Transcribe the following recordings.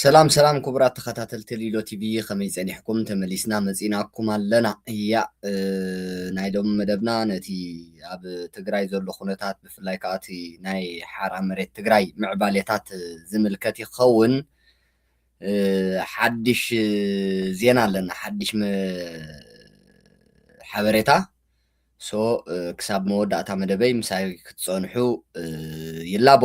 ሰላም ሰላም ክቡራት ተኸታተልቲ ሊሎ ቲቪ ከመይ ጸኒሕኩም ተመሊስና መጺናኩም ኣለና እያ ናይ ሎሚ መደብና ነቲ ኣብ ትግራይ ዘሎ ኩነታት ብፍላይ ከዓ እቲ ናይ ሓራ መሬት ትግራይ ምዕባሌታት ዝምልከት ይኸውን ሓድሽ ዜና ኣለና ሓድሽ ሓበሬታ ሶ ክሳብ መወዳእታ መደበይ ምሳይ ክትጸንሑ ይላቦ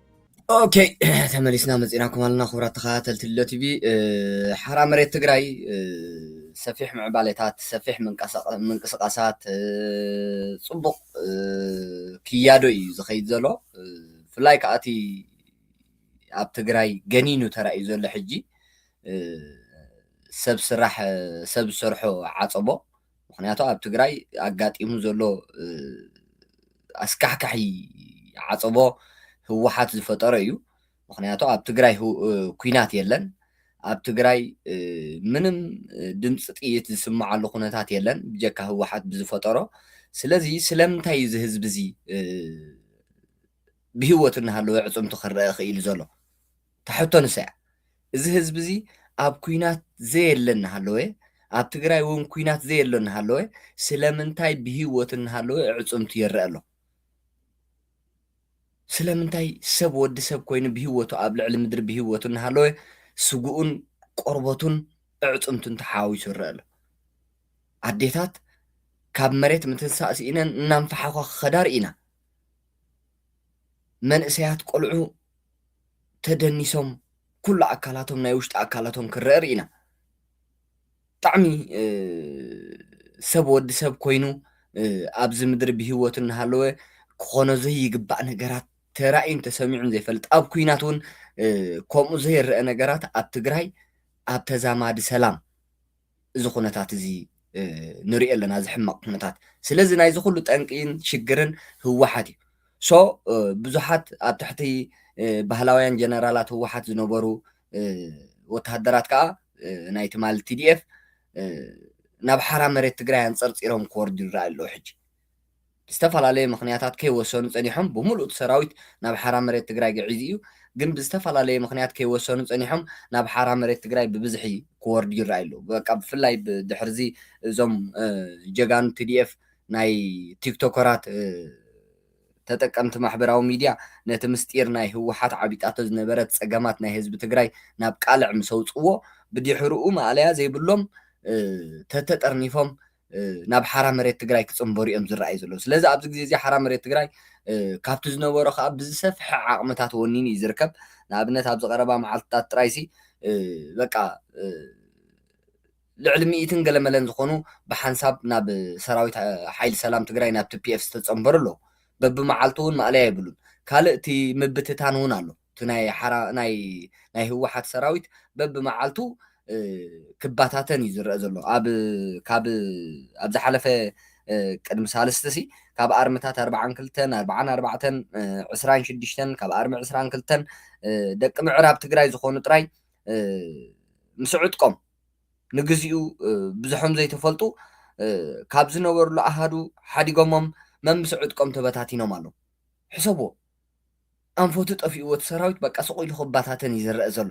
ኦኬ ተመሊስና መፂናኩም ኣለና ክቡራት ተኸታተልቲ ሎ ቲቪ ሓራ መሬት ትግራይ ሰፊሕ ምዕባሌታት ሰፊሕ ምንቅስቃሳት ፅቡቅ ክያዶ እዩ ዝኸይድ ዘሎ ብፍላይ ከዓ እቲ ኣብ ትግራይ ገኒኑ ተራእዩ ዘሎ ሕጂ ሰብ ስራሕ ሰብ ዝሰርሖ ዓፀቦ ምክንያቱ ኣብ ትግራይ ኣጋጢሙ ዘሎ ኣስካሕካሒ ዓፀቦ ህወሓት ዝፈጠሮ እዩ። ምክንያቱ ኣብ ትግራይ ኩናት የለን ኣብ ትግራይ ምንም ድምፂ ጥይት ዝስምዓሉ ኩነታት የለን ብጀካ ህወሓት ብዝፈጠሮ ስለዚ ስለምንታይ እዩ እዚ ህዝቢ እዚ ብሂወት እናሃለወ ዕፅምቱ ክረአ ክኢሉ ዘሎ እታ ሕቶ ንሳ እያ። እዚ ህዝቢ እዚ ኣብ ኩናት ዘየለ እናሃለወ፣ ኣብ ትግራይ እውን ኩናት ዘየሎ እናሃለወ ስለምንታይ ብህይወት እናሃለወ ኣዕፅምቱ ይረኣ ኣሎ? ስለምንታይ ሰብ ወዲ ሰብ ኮይኑ ብህይወቱ ኣብ ልዕሊ ምድሪ ብህይወቱ እናሃለወ ስግኡን ቆርበቱን ኣዕፅምቱን ተሓዋዊሱ ይረኣ ኣሎ? ኣዴታት ካብ መሬት ምትንሳእ ስኢነን እናንፈሓዃ ክኸዳ ርኢና። መንእሰያት ቆልዑ ተደኒሶም ኩሉ ኣካላቶም ናይ ውሽጢ ኣካላቶም ክረአ ርኢና ብጣዕሚ ሰብ ወዲ ሰብ ኮይኑ ኣብዚ ምድሪ ብሂወት እናሃለወ ክኾኖ ዘይግባእ ነገራት ተራእዩን ተሰሚዑን ዘይፈልጥ ኣብ ኩናት እውን ከምኡ ዘይረአ ነገራት ኣብ ትግራይ ኣብ ተዛማዲ ሰላም እዚ ኩነታት እዚ ንሪኦ ኣለና እዚ ሕማቅ ኩነታት ስለዚ ናይዚ ኩሉ ጠንቂን ሽግርን ህወሓት እዩ ሶ ብዙሓት ኣብ ትሕቲ ባህላውያን ጀነራላት ህወሓት ዝነበሩ ወተሃደራት ከዓ ናይ ትማል ቲዲኤፍ ናብ ሓራ መሬት ትግራይ ኣንፀርፂሮም ክወርዱ ይረኣዩ ኣለዉ ሕጂ ብዝተፈላለየ ምኽንያታት ከይወሰኑ ፀኒሖም ብሙሉእ እቲ ሰራዊት ናብ ሓራ መሬት ትግራይ ገዒዙ እዩ። ግን ብዝተፈላለየ ምኽንያት ከይወሰኑ ፀኒሖም ናብ ሓራ መሬት ትግራይ ብብዝሒ ክወርዱ ይረኣዩ ኣለዉ። በቃ ብፍላይ ድሕሪ እዚ እዞም ጀጋኑ tdf ናይ ቲክቶከራት ተጠቀምቲ ማሕበራዊ ሚድያ ነቲ ምስጢር ናይ ህወሓት ዓቢጣቶ ዝነበረት ፀገማት ናይ ህዝቢ ትግራይ ናብ ቃልዕ ምስ ኣውፅእዎ ብድሕርኡ ማእለያ ዘይብሎም ተተጠርኒፎም ናብ ሓራ መሬት ትግራይ ክፅምበሩ እዮም ዝረኣዩ ዘለዉ። ስለዚ ኣብዚ ግዜ እዚ ሓራ መሬት ትግራይ ካብቲ ዝነበሮ ከዓ ብዝሰፍሐ ዓቕምታት ወኒኑ እዩ ዝርከብ። ንኣብነት ኣብዚ ቀረባ መዓልትታት ጥራይሲ በቃ ልዕሊ ሚእትን ገለመለን ዝኾኑ ብሓንሳብ ናብ ሰራዊት ሓይሊ ሰላም ትግራይ ናብ ቲፒኤፍ ዝተፀምበሩ ኣለዉ። በብመዓልቱ እውን ማእለያ የብሉን። ካልእ እቲ ምብትታን እውን ኣሎ። እቲ ናይ ሓራ ናይ ናይ ህወሓት ሰራዊት በብመዓልቱ ክባታተን እዩ ዝረኣ ዘሎ ኣብ ካብ ኣብ ዝሓለፈ ቅድሚ ሳልስቲ ሲ ካብ ኣርምታት ኣርባዓን ክልተን ኣርባዓን ኣርባዕተን ዕስራን ሽዱሽተን ካብ ኣርሚ ዕስራን ክልተን ደቂ ምዕራብ ትግራይ ዝኾኑ ጥራይ ምስ ዕጥቆም ንግዚኡ ብዙሖም ዘይተፈልጡ ካብ ዝነበሩሉ ኣሃዱ ሓዲጎሞም መምስ ዕጥቆም ተበታቲኖም ኣለዉ ሕሰብዎ ኣንፈቱ ጠፊእዎ እቲ ሰራዊት በቃ ስቕ ኢሉ ክባታተን እዩ ዝረኣ ዘሎ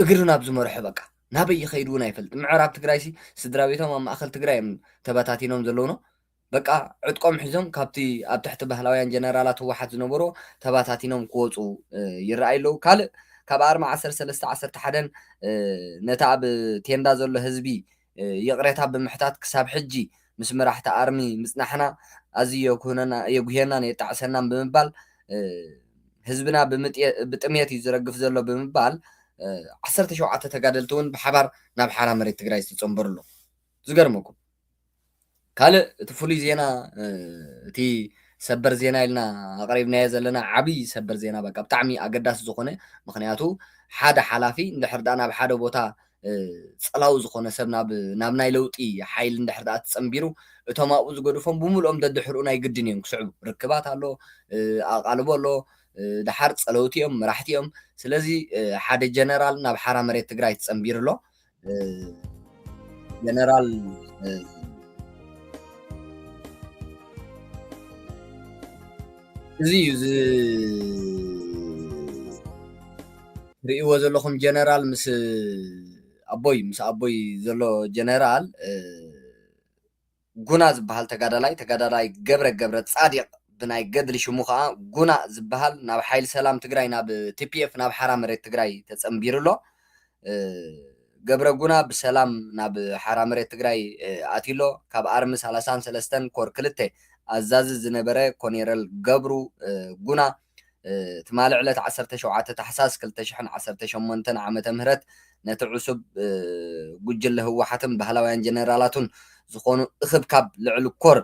እግሪ ናብ ዝመርሖ በቃ ናበይ ይኸይድ እውን ኣይፈልጥ ምዕራብ ትግራይሲ ስድራ ቤቶም ኣብ ማእኸል ትግራይ እዮም ተበታቲኖም ዘለውኖ በቃ ዕጥቆም ሒዞም ካብቲ ኣብ ትሕቲ ባህላውያን ጀነራላት ህወሓት ዝነበሩ ተባታቲኖም ክወፁ ይረኣዩ ኣለዉ ካልእ ካብ ኣርማ ዓሰርተ ሰለስተ ዓሰርተ ሓደን ነቲ ኣብ ቴንዳ ዘሎ ህዝቢ ይቕሬታ ብምሕታት ክሳብ ሕጂ ምስ መራሕቲ ኣርሚ ምጽናሕና ኣዝዩ የጉህየናን የጣዕሰናን ብምባል ህዝብና ብጥምየት እዩ ዝረግፍ ዘሎ ብምባል ዓሰርተ ሸውዓተ ተጋደልቲ እውን ብሓባር ናብ ሓራ መሬት ትግራይ ዝተጸንበሩሉ ዝገርመኩም ካልእ እቲ ፍሉይ ዜና እቲ ሰበር ዜና ኢልና ኣቕሪብናዮ ዘለና ዓብዪ ሰበር ዜና በቃ ብጣዕሚ ኣገዳሲ ዝኾነ ምኽንያቱ ሓደ ሓላፊ እንድሕር ደኣ ናብ ሓደ ቦታ ጸላዊ ዝኾነ ሰብ ናብ ናብ ናይ ለውጢ ሓይሊ እንድሕር ደኣ ተጸንቢሩ እቶም ኣብኡ ዝገድፎም ብምልኦም ደድሕርኡ ናይ ግድን እዮም ክስዕቡ ርክባት ኣሎ ኣቓልቦ ኣሎ ደሓር ጸለውቲ እዮም መራሕቲ እዮም ስለዚ ሓደ ጀነራል ናብ ሓራ መሬት ትግራይ ተጸንቢሩ ኣሎ ጀነራል እዚ እዩ ዝርእይዎ ዘለኹም ጀነራል ምስ ኣቦይ ምስ ኣቦይ ዘሎ ጀነራል ጉና ዝብሃል ተጋዳላይ ተጋዳላይ ገብረ ገብረ ጻዲቕ ብናይ ገድሊ ሽሙ ከኣ ጉና ዝብሃል ናብ ሓይሊ ሰላም ትግራይ ናብ ቲፒኤፍ ናብ ሓራ መሬት ትግራይ ተጸንቢሩ ኣሎ ገብረ ጉና ብሰላም ናብ ሓራ መሬት ትግራይ ኣትዩ ኣሎ ካብ ኣርሚ ሰላሳን ሰለስተን ኮር ክልተ ኣዛዚ ዝነበረ ኮኔረል ገብሩ ጉና ትማሊ ዕለት ዓሰርተ ሸውዓተ ታሕሳስ ክልተ ሽሕን ዓሰርተ ሸሞንተን ዓመተ ምህረት ነቲ ዕሱብ ጉጅለ ህወሓትን ባህላውያን ጀነራላቱን ዝኾኑ እኽብካብ ልዕሊ ኮር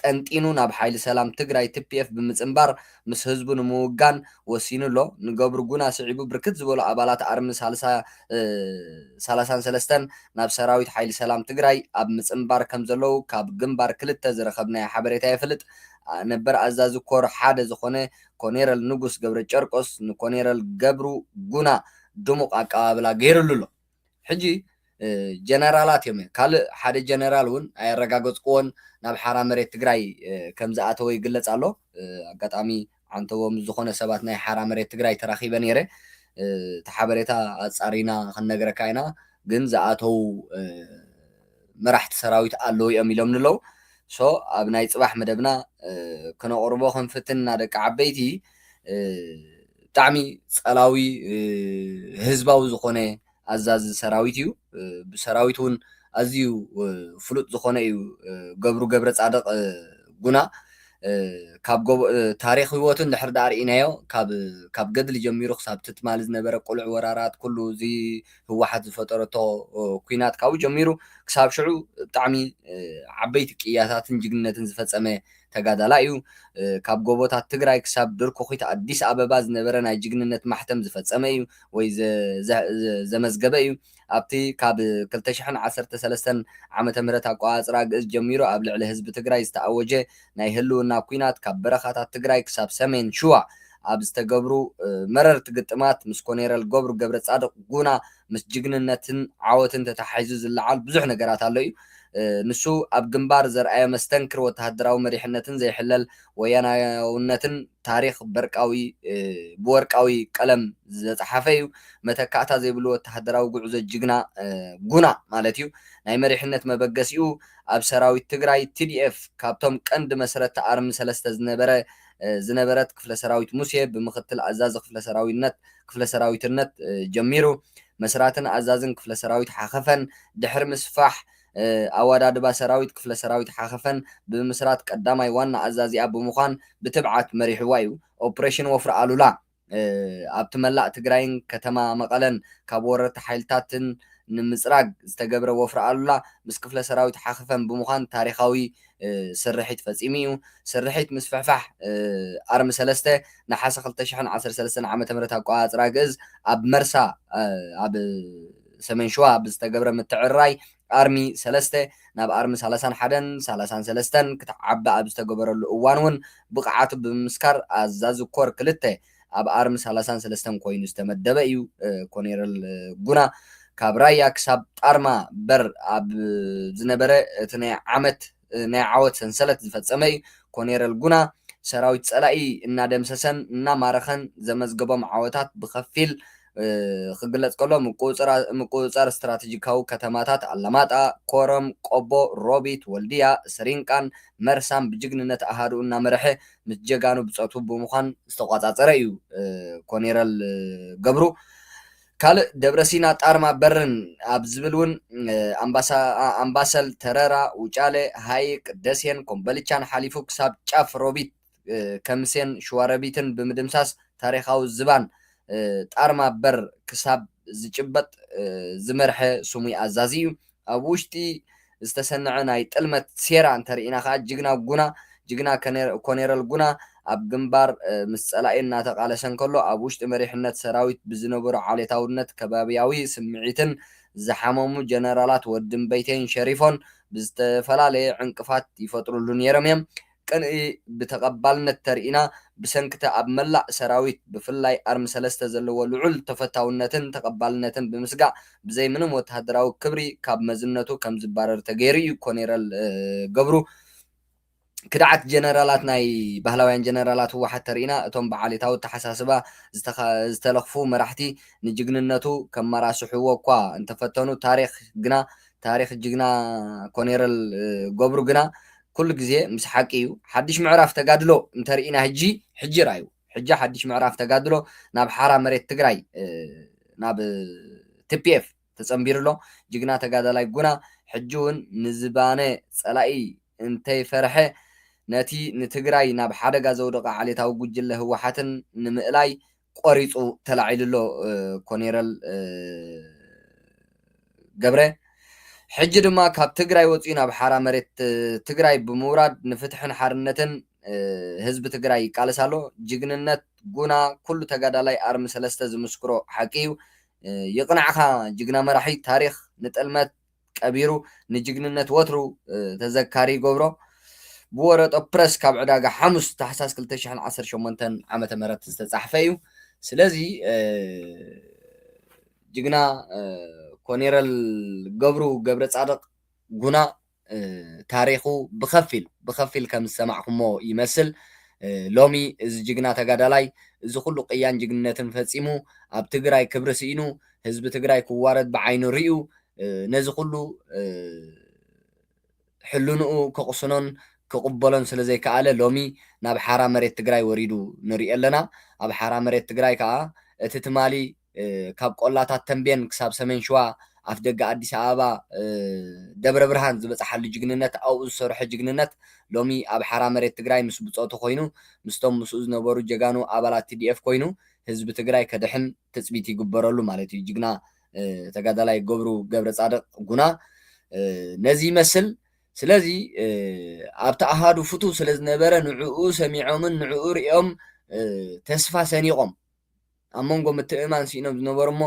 ጠንጢኑ ናብ ሓይሊ ሰላም ትግራይ ትፒኤፍ ብምፅምባር ምስ ህዝቡ ንምውጋን ወሲኑ ኣሎ። ንገብሩ ጉና ስዒቡ ብርክት ዝበሉ ኣባላት ኣርሚ ሰላሳን ሰለስተን ናብ ሰራዊት ሓይሊ ሰላም ትግራይ ኣብ ምፅምባር ከምዘለዉ ካብ ግንባር ክልተ ዝረኸብናዮ ሓበሬታ የፍልጥ። ነበር ኣዛዚ ኮር ሓደ ዝኾነ ኮኔረል ንጉስ ገብረጨርቆስ ንኮኔረል ገብሩ ጉና ድሙቕ ኣቀባብላ ገይርሉ ኣሎ። ሕጂ ጀነራላት እዮም እዮም ካልእ ሓደ ጀነራል እውን ኣየረጋገፅክዎን ናብ ሓራ መሬት ትግራይ ከም ዝኣተወ ይግለፅ ኣሎ። ኣጋጣሚ ዓንተቦ ምስ ዝኾነ ሰባት ናይ ሓራ መሬት ትግራይ ተራኺበ ነይረ እቲ ሓበሬታ ኣፃሪና ክንነግረካ ኢና ግን ዝኣተው መራሕቲ ሰራዊት ኣለዉ እዮም ኢሎምኒ ኣለዉ so ኣብ ናይ ጽባሕ መደብና ክነቅርቦ ክንፍትን እና ደቂ ዓበይቲ ብጣዕሚ ጸላዊ ህዝባዊ ዝኮነ ኣዛዚ ሰራዊት እዩ ብሰራዊት እውን ኣዝዩ ፍሉጥ ዝኮነ እዩ ገብሩ ገብረጻድቅ ጉና ካብ ጎቦ ታሪክ ህይወቱ እንድሕር ድኣ ርኢናዮ ካብ ካብ ገድሊ ጀሚሩ ክሳብ ትማሊ ዝነበረ ቅሉዕ ወራራት ኩሉ እዚ ህወሓት ዝፈጠረቶ ኩናት ካብኡ ጀሚሩ ክሳብ ሽዑ ብጣዕሚ ዓበይቲ ቅያታትን ጅግንነትን ዝፈፀመ ተጋዳላይ እዩ። ካብ ጎቦታት ትግራይ ክሳብ ድርኩኺት ኣዲስ ኣበባ ዝነበረ ናይ ጅግንነት ማሕተም ዝፈፀመ እዩ ወይ ዘመዝገበ እዩ። ኣብቲ ካብ ክልተ ሽሕን ዓሰርተ ሰለስተን ዓመተ ምህረት ኣቆፃፅራ ግእዝ ጀሚሩ ኣብ ልዕሊ ህዝቢ ትግራይ ዝተኣወጀ ናይ ህልውና ኩናት ካብ በረኻታት ትግራይ ክሳብ ሰሜን ሽዋ ኣብ ዝተገብሩ መረርቲ ግጥማት ምስ ኮኔረል ገብሩ ገብረጻድቕ ጉና ምስ ጅግንነትን ዓወትን ተተሓሒዙ ዝለዓል ብዙሕ ነገራት ኣሎ እዩ። ንሱ ኣብ ግንባር ዘርኣዮ መስተንክር ወተሃደራዊ መሪሕነትን ዘይሕለል ወያናያውነትን ታሪኽ በርቃዊ ብወርቃዊ ቀለም ዝተጻሓፈ እዩ። መተካእታ ዘይብሉ ወተሃደራዊ ጉዕዞ ጅግና ጉና ማለት እዩ። ናይ መሪሕነት መበገሲኡ ኣብ ሰራዊት ትግራይ፣ TDF፣ ካብቶም ቀንዲ መስረቲ ኣርሚ ሰለስተ ዝነበረ ዝነበረት ክፍለ ሰራዊት ሙሴ ብምክትል ኣዛዚ ክፍለ ሰራዊነት ክፍለ ሰራዊትነት ጀሚሩ መስራትን ኣዛዝን ክፍለ ሰራዊት ሓኸፈን ድሕሪ ምስፋሕ ኣወዳድባ ሰራዊት ክፍለ ሰራዊት ሓኸፈን ብምምስራት ቀዳማይ ዋና ኣዛዚኣ ብምዃን ብትብዓት መሪሕዋ እዩ። ኦፕሬሽን ወፍሪ ኣሉላ ኣብቲ መላእ ትግራይን ከተማ መቐለን ካብ ወረርቲ ሓይልታትን ንምፅራግ ዝተገብረ ወፍሪ ኣሉላ ምስ ክፍለ ሰራዊት ሓኽፈም ብምዃን ታሪኻዊ ስርሒት ፈፂሙ እዩ። ስርሒት ምስፍሕፋሕ ኣርሚ ሰለስተ ነሓሰ ክልተ ሽሕን ዓሰርተ ሰለስተን ዓመተ ምህረት ኣቆፃፅራ ግእዝ ኣብ መርሳ ኣብ ሰሜን ሽዋ ብዝተገብረ ምትዕርራይ ኣርሚ ሰለስተ ናብ ኣርሚ ሳላሳን ሓደን፣ ሳላሳን ሰለስተን፣ ክትዓቢ ኣብ ዝተገበረሉ እዋን እውን ብቕዓቱ ብምምስካር ኣዛዚ ኮር ክልተ ኣብ ኣርሚ ሳላሳን ሰለስተን ኮይኑ ዝተመደበ እዩ። ኮኔረል ጉና ካብ ራያ ክሳብ ጣርማ በር ኣብ ዝነበረ እቲ ናይ ዓመት ናይ ዓወት ሰንሰለት ዝፈፀመ ዩ። ኮኔረል ጉና ሰራዊት ፀላኢ እናደምሰሰን እናማረኸን ዘመዝገቦም ዓወታት ብኸፊል ክግለፅ ከሎ ምቁፅፃር ስትራቴጂካዊ ከተማታት ኣላማጣ፣ ኮረም፣ ቆቦ፣ ሮቢት፣ ወልድያ፣ ስሪንቃን መርሳን ብጅግንነት ኣሃዱኡ እናመረሐ ምስ ጀጋኑ ብፆቱ ብምዃን ዝተቋፃፀረ ዩ። ኮኔረል ገብሩ ካልእ ደብረሲና ጣርማ በርን ኣብ ዝብል እውን ኣምባሰል፣ ተረራ፣ ውጫለ፣ ሃይቅ፣ ደሴን ኮምበልቻን ሓሊፉ ክሳብ ጫፍ ሮቢት፣ ከምሴን ሽዋሮቢትን ብምድምሳስ ታሪኻዊ ዝባን ጣርማ በር ክሳብ ዝጭበጥ ዝመርሐ ስሙይ ኣዛዚ እዩ። ኣብ ውሽጢ ዝተሰነዐ ናይ ጥልመት ሴራ እንተርኢና ከኣ ጅግና ጉና፣ ጅግና ኮኔረል ጉና፣ ኣብ ግንባር ምስ ጸላኢ እናተቓለሰ እንከሎ ኣብ ውሽጢ መሪሕነት ሰራዊት ብዝነበሮ ዓሌታውነት ከባብያዊ ስምዒትን ዝሓመሙ ጀነራላት ወዲ እምበይተይን ሸሪፎን ብዝተፈላለየ ዕንቅፋት ይፈጥርሉ ነይሮም እዮም። ቅንኢ ብተቐባልነት ተርኢና ብሰንኪ'ቲ ኣብ መላእ ሰራዊት ብፍላይ ኣርሚ ሰለስተ ዘለዎ ልዑል ተፈታውነትን ተቐባልነትን ብምስጋእ ብዘይ ምንም ወተሃደራዊ ክብሪ ካብ መዝነቱ ከምዝባረር ተገይሩ'ዩ ኮኔረል ገብሩ ክድዓት ጀነራላት ናይ ባህላውያን ጀነራላት ህወሓት ተርኢና እቶም ብዓሌታዊ ኣተሓሳስባ ዝተለኽፉ መራሕቲ ንጅግንነቱ ከመራስሕዎ እኳ እንተፈተኑ ታሪኽ ግና ታሪኽ ጅግና ኮኔረል ገብሩ ግና ኩሉ ግዜ ምስ ሓቂ እዩ። ሓድሽ ምዕራፍ ተጋድሎ እንተርኢና ህጂ ሕጂ ርኣዩ። ሕጂ ሓድሽ ምዕራፍ ተጋድሎ ናብ ሓራ መሬት ትግራይ ናብ tpf ተጸንቢሩ ኣሎ። ጅግና ተጋዳላይ ጉና ሕጂ እውን ንዝባነ ጸላኢ እንተይፈርሐ ነቲ ንትግራይ ናብ ሓደጋ ዘውደቐ ዓሌታዊ ጉጅለ ህወሓትን ንምእላይ ቆሪፁ ተላዒሉ ኣሎ ኮኔረል ገብረ። ሕጂ ድማ ካብ ትግራይ ወፂኡ ናብ ሓራ መሬት ትግራይ ብምውራድ ንፍትሕን ሓርነትን ህዝቢ ትግራይ ይቃለስ ኣሎ። ጅግንነት ጉና ኩሉ ተጋዳላይ ኣርሚ ሰለስተ ዝምስክሮ ሓቂ እዩ። ይቕናዕኻ ጅግና መራሒ ታሪኽ ንጥልመት ቀቢሩ ንጅግንነት ወትሩ ተዘካሪ ይገብሮ። ብወረጦ ፕረስ ካብ ዕዳጋ ሓሙስ ታሕሳስ ክልተ ሽሕን ዓሰርተ ሸሞንተን ዓመተ ምህረት ዝተጻሕፈ እዩ። ስለዚ ጅግና ኮኔረል ገብሩ ገብረጻድቕ ጉና ታሪኹ ብኸፊል ብኸፊል ከም ዝሰማዕኩሞ ይመስል። ሎሚ እዚ ጅግና ተጋዳላይ እዚ ኩሉ ቅያን ጅግንነትን ፈጺሙ ኣብ ትግራይ ክብሪ ስኢኑ ህዝቢ ትግራይ ክዋረድ ብዓይኑ ሪኡ ነዚ ኩሉ ሕልንኡ ከቕስኖን ክቕበሎን ስለ ዘይከኣለ ሎሚ ናብ ሓራ መሬት ትግራይ ወሪዱ ንሪኦ ኣለና። ኣብ ሓራ መሬት ትግራይ ከኣ እቲ ትማሊ ካብ ቆላታት ተምቤን ክሳብ ሰሜን ሽዋ ኣፍደገ ኣዲስ ኣበባ ደብረ ብርሃን ዝበጽሓሉ ጅግንነት ኣብኡ ዝሰርሖ ጅግንነት ሎሚ ኣብ ሓራ መሬት ትግራይ ምስ ብጾቱ ኮይኑ ምስቶም ምስኡ ዝነበሩ ጀጋኑ ኣባላት TDF ኮይኑ ህዝቢ ትግራይ ከድሕን ትፅቢት ይግበረሉ ማለት እዩ ጅግና ተጋዳላይ ገብሩ ገብረፃድቕ ጉና ነዚ ይመስል ስለዚ ኣብቲ ኣሃዱ ፍቱው ስለ ዝነበረ ንዕኡ ሰሚዖምን ንዕኡ ሪኦም ተስፋ ሰኒቖም ኣብ መንጎ ምትእማን ስኢኖም ዝነበሩ እሞ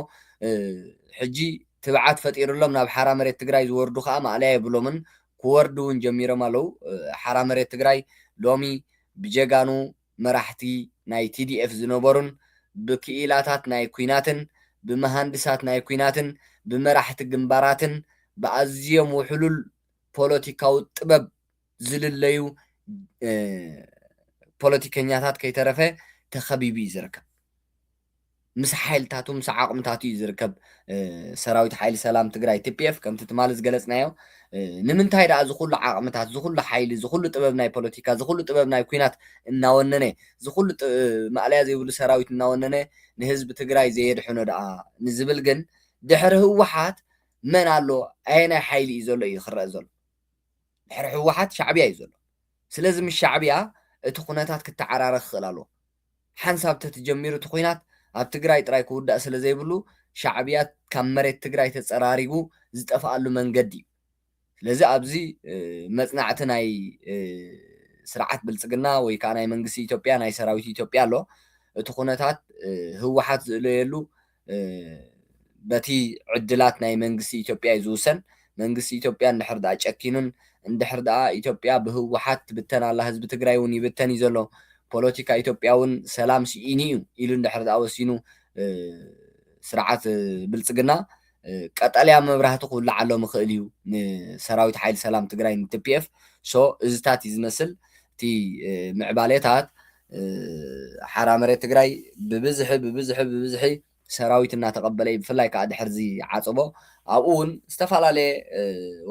ሕጂ ትብዓት ፈጢርሎም ናብ ሓራ መሬት ትግራይ ዝወርዱ ከዓ ማእለያ የብሎምን ክወርዱ እውን ጀሚሮም ኣለው ሓራ መሬት ትግራይ ሎሚ ብጀጋኑ መራሕቲ ናይ ቲዲኤፍ ዝነበሩን ብክኢላታት ናይ ኲናትን ብመሃንድሳት ናይ ኲናትን ብመራሕቲ ግንባራትን ብኣዝዮም ውሕሉል ፖለቲካዊ ጥበብ ዝልለዩ ፖለቲከኛታት ከይተረፈ ተኸቢቡ'ዩ ዝርከብ። ምስ ሓይልታቱ ምስ ዓቕምታቱ እዩ ዝርከብ ሰራዊት ሓይሊ ሰላም ትግራይ ቲፒኤፍ ከምቲ ትማሊ ዝገለፅናዮ ንምንታይ ደኣ ዝኩሉ ዓቕምታት ዝኩሉ ሓይሊ ዝኩሉ ጥበብ ናይ ፖለቲካ ዝኩሉ ጥበብ ናይ ኩናት እናወነነ ዝኩሉ ማእለያ ዘይብሉ ሰራዊት እናወነነ ንህዝቢ ትግራይ ዘየድሕኖ ደኣ ንዝብል ግን ድሕሪ ህወሓት መን ኣሎ ኣየናይ ሓይሊ እዩ ዘሎ እዩ ክረአ ዘሎ ድሕሪ ህወሓት ሻዕብያ እዩ ዘሎ ስለዚ ምስ ሻዕብያ እቲ ኩነታት ክተዓራረኽ ክኽእል ኣለዎ ሓንሳብ ተትጀሚሩ እቲ ኹናት ኣብ ትግራይ ጥራይ ክውዳእ ስለ ዘይብሉ ሻዕብያ ካብ መሬት ትግራይ ተፀራሪጉ ዝጠፍኣሉ መንገዲ እዩ። ስለዚ ኣብዚ መፅናዕቲ ናይ ስርዓት ብልፅግና ወይ ከዓ ናይ መንግስቲ ኢትዮጵያ ናይ ሰራዊት ኢትዮጵያ ኣሎ። እቲ ኹነታት ህወሓት ዝእለየሉ በቲ ዕድላት ናይ መንግስቲ ኢትዮጵያ እዩ ዝውሰን። መንግስቲ ኢትዮጵያ እንድሕር ድኣ ጨኪኑን እንድሕር ድኣ ኢትዮጵያ ብህወሓት ትብተን ኣላ ህዝቢ ትግራይ እውን ይብተን እዩ ዘሎ ፖለቲካ ኢትዮጵያ እውን ሰላም ስኢኑ እዩ ኢሉ እንድሕር ድኣ ወሲኑ ስርዓት ብልፅግና ቀጠልያ መብራህቲ ክውልዓሎም ይኽእል እዩ ንሰራዊት ሓይሊ ሰላም ትግራይ ንቲፒኤፍ ሶ እዚታት እዩ ዝመስል እቲ ምዕባሌታት ሓራ መሬት ትግራይ ብብዝሒ ብብዝሒ ብብዝሒ ሰራዊት እናተቐበለ ብፍላይ ከዓ ድሕሪ እዚ ዓፀቦ ኣብኡ እውን ዝተፈላለየ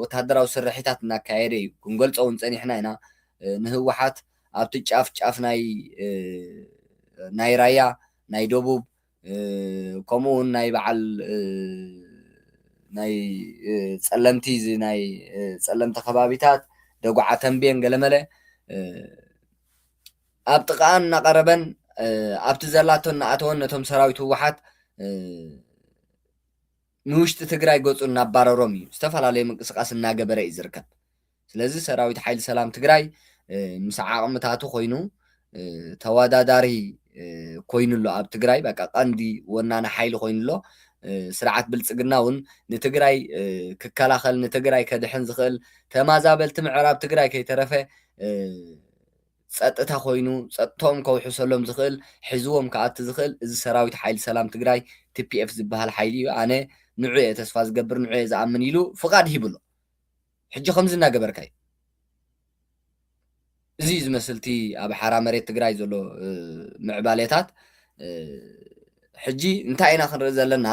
ወታደራዊ ስርሒታት እናካየደ እዩ። ክንገልፆ እውን ፀኒሕና ኢና። ንህወሓት ኣብቲ ጫፍ ጫፍ ናይ ናይ ራያ ናይ ደቡብ ከምኡ ውን ናይ በዓል ናይ ጸለምቲ እዚ ናይ ጸለምቲ ከባቢታት ደጉዓ ተንቤን ገለመለ ኣብ ጥቃኣን እናቀረበን ኣብቲ ዘላቶ እናኣተወን ነቶም ሰራዊት ህወሓት ንውሽጢ ትግራይ ገፁ እናባረሮም እዩ ዝተፈላለዩ ምንቅስቃስ እናገበረ እዩ ዝርከብ። ስለዚ ሰራዊት ሓይሊ ሰላም ትግራይ ምስ ዓቕምታቱ ኮይኑ ተወዳዳሪ ኮይኑ ኣሎ ኣብ ትግራይ በቃ ቀንዲ ወናኒ ሓይሊ ኮይኑ ኣሎ ስርዓት ብልፅግና እውን ንትግራይ ክከላኸል ንትግራይ ከድሕን ዝኽእል ተማዛበልቲ ምዕራብ ትግራይ ከይተረፈ ፀጥታ ኮይኑ ፀጥቶም ከውሕሰሎም ዝኽእል ሒዝዎም ክኣቲ ዝኽእል እዚ ሰራዊት ሓይሊ ሰላም ትግራይ ቲፒኤፍ ዝበሃል ሓይሊ እዩ ኣነ ንዑ እየ ተስፋ ዝገብር ንዑ እየ ዝኣምን ኢሉ ፍቓድ ሂብሎ ሕጂ ከምዚ እናገበርካ እዩ እዚ እዩ ዝመስል እቲ ኣብ ሓራ መሬት ትግራይ ዘሎ ምዕባሌታት ሕጂ እንታይ ኢና ክንርኢ ዘለና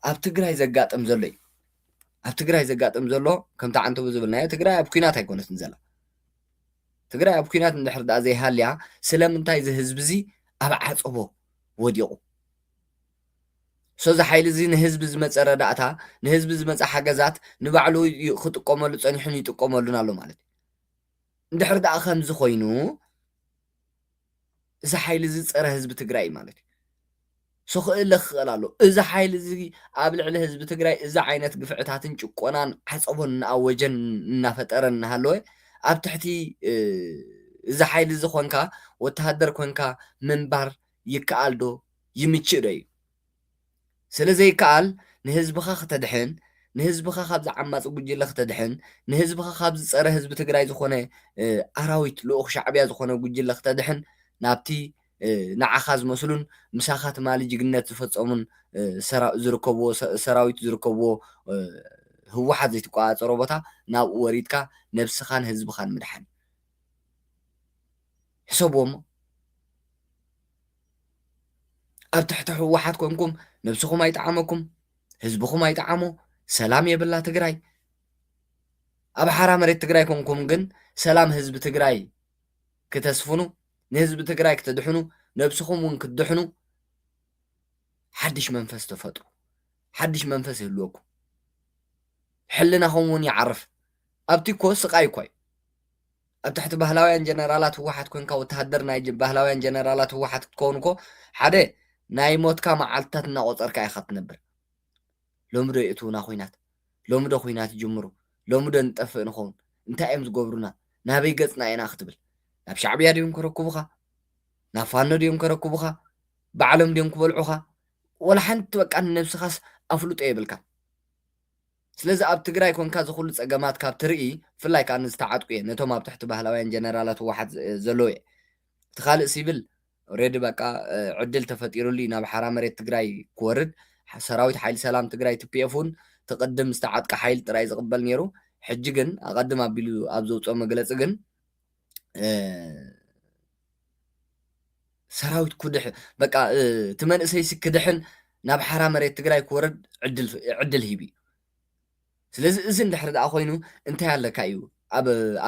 ኣብ ትግራይ ዘጋጥም ዘሎ እዩ ኣብ ትግራይ ዘጋጥም ዘሎ ከምቲ ዓንተቡ ዝብልናዮ ትግራይ ኣብ ኩናት ኣይኮነትን ዘላ ትግራይ ኣብ ኩናት እንድሕር ዳኣ ዘይሃልያ ስለምንታይ እዚ ህዝቢ እዚ ኣብ ዓፀቦ ወዲቑ ሶዚ ሓይሊ እዚ ንህዝቢ ዝመፀ ረዳእታ ንህዝቢ ዝመፀ ሓገዛት ንባዕሉ ክጥቀመሉ ፀኒሑን ይጥቀመሉን ኣሎ ማለት እዩ እንድሕር ደኣ ከምዚ ኮይኑ እዚ ሓይሊ እዚ ፀረ ህዝቢ ትግራይ እዩ ማለት እዩ ሶ ክእለ ክኽእል ኣሎ እዚ ሓይሊ እዚ ኣብ ልዕሊ ህዝቢ ትግራይ እዚ ዓይነት ግፍዕታትን ጭቆናን ዓፀቦን እናኣወጀን እናፈጠረን እናሃለወ ኣብ ትሕቲ እዚ ሓይሊ እዚ ኮንካ ወተሃደር ኮንካ ምንባር ይከኣል ዶ ይምችእ ዶ እዩ ስለ ዘይከኣል ንህዝብኻ ክተድሕን ንህዝብኻ ካብዚ ዓማጺ ጉጅለ ክተድሕን ንህዝብኻ ካብዚ ጸረ ህዝቢ ትግራይ ዝኾነ ኣራዊት ልኡኽ ሻዕብያ ዝኾነ ጉጅለ ክተድሕን ናብቲ ንዓኻ ዝመስሉን ምሳኻ ትማሊ ጅግነት ዝፈጸሙን ዝርከብዎ ሰራዊት ዝርከብዎ ህወሓት ዘይትቆጻጸሮ ቦታ ናብኡ ወሪድካ ነብስኻን ህዝብኻን ምድሓን እዩ ሕሰብዎ እሞ ኣብ ትሕቲ ህወሓት ኮንኩም ነብስኹም ኣይጠዓመኩም ህዝብኹም ኣይጠዓሞ ሰላም የብላ ትግራይ ኣብ ሓራ መሬት ትግራይ ኮንኩም ግን ሰላም ህዝቢ ትግራይ ክተስፍኑ ንህዝቢ ትግራይ ክትድሕኑ ነብስኹም እውን ክትድሕኑ ሓድሽ መንፈስ ተፈጥሩ ሓድሽ መንፈስ ይህልወኩም ሕልናኹም እውን ይዓርፍ ኣብቲ እኮ ስቃይ እኳ እዩ ኣብ ትሕቲ ባህላውያን ጀነራላት ህወሓት ኮንካ ወተሃደር ናይ ባህላውያን ጀነራላት ህወሓት ክትከውን እኮ ሓደ ናይ ሞትካ መዓልትታት እናቖፀርካ ኢኻ ትነብር። ሎሚ ዶ የእትዉና ኹናት? ሎሚ ዶ ኹናት ይጅምሩ? ሎሚ ዶ ንጠፍእ ንኸውን? እንታይ እዮም ዝገብሩና? ናበይ ገፅና ኢና ክትብል? ናብ ሻዕብያ ድዮም ከረክቡኻ? ናብ ፋኖ ድዮም ከረክቡኻ? ባዕሎም ድዮም ክበልዑኻ? ወላ ሓንቲ በቃ ንነብስኻስ ኣፍልጦ የብልካን። ስለዚ ኣብ ትግራይ ኮንካ እዚ ኩሉ ጸገማት ካብ ትርኢ ብፍላይ ከኣ ንዝተዓጥቁ እየ ነቶም ኣብ ትሕቲ ባህላውያን ጀነራላት ህወሓት ዘለዉ እየ እቲ ካልእ ሲቪል ኦሬዲ በቃ ዕድል ተፈጢሩሉ እዩ ናብ ሓራ መሬት ትግራይ ክወርድ ሰራዊት ሓይሊ ሰላም ትግራይ ትፒኤፍ እውን እቲ ቅድም ዝተዓጥቀ ሓይሊ ጥራይ ዝቕበል ነይሩ ሕጂ ግን ኣቐድም ኣቢሉ ኣብ ዘውጽኦ መግለጺ ግን ሰራዊት ኩድሕ በቃ እቲ መንእሰይሲ ክድሕን ናብ ሓራ መሬት ትግራይ ክወረድ ዕድል ሂብ እዩ ስለዚ እዚ እንድሕሪ ደኣ ኮይኑ እንታይ ኣለካ እዩ